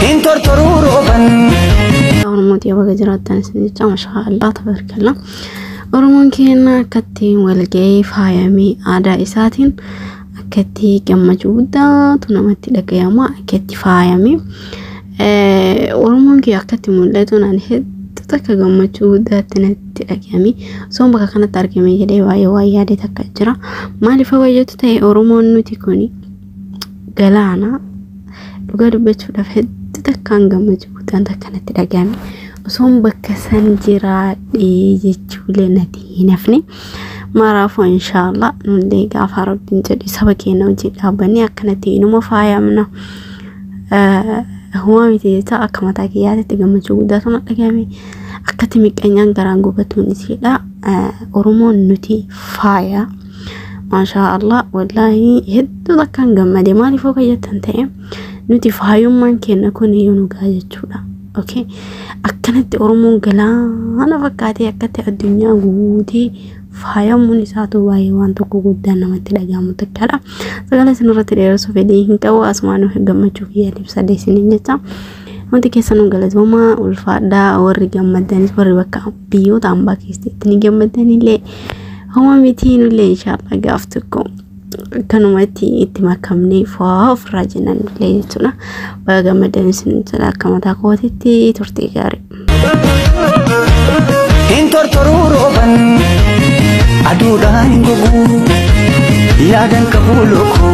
Hin tortoruu rooban. Oromootii baga jiraattan isin jecha mashaa Allah tabarkalla. Oromoon keenya akkatti walga'ee faayamee aadaa isaatiin akkatti gammachuu guddaatu namatti dhagayama akkatti faayame. Oromoon kee akkatti mul'atu naan hedduu takka gammachuu guddaatti natti dhagayame. Osoon bakka kanatti argame jedhee baay'ee waan yaade takka jira. Maaliif hawwayyatu ta'e Oromoon nuti kuni? galaana dhugaa dubbachuudhaaf hedduu takkaan gammachuu guddaan takka natti dhagahame osoon bakka san jiraadhee jechuulee natti hin hafne maraafuu inshaallah nullee gaafa rabbiin jedhu saba keenya hojii dhaabbanne akkanatti inuma faayamna humaa miti jecha akka mataa kiyyaatitti gammachuu guddaa sana dhagahame akkatti miqqanyaan garaan gubatuun isiidha oromoon nuti faaya. Maashaa Allah wallaahi hedduu takkaan gammade maaliif akka jettan ta'e nuti faayummaan keenya kun iyyuu nu ga'a jechuudha. Okay. Akkanatti Oromoon galaana fakkaatee akkatti addunyaa guutee faayamuun isaatu baay'ee waan tokko guddaa namatti dhaga'amu takkaadha. Sagalee isinirratti dheeressuu fedhii hin qabu asumaan gammachuu kiyya ibsadhe isiniin jecha. Wanti keessanuu galatoomaa ulfaadhaa warri gammadanis warri bakka biyyoota ambaa keessatti ni gammaddanillee homa mitii nullee inshaallah gaaf tokko akkanumatti itti makamnee fa'aa ofirraa jennan illee jechuudha. Baga gammaddan isin jedha akka mataa kootitti turtee gaarii. hin tortoruu rooban aduudhaan hin goguu yaadan qabuu lookoo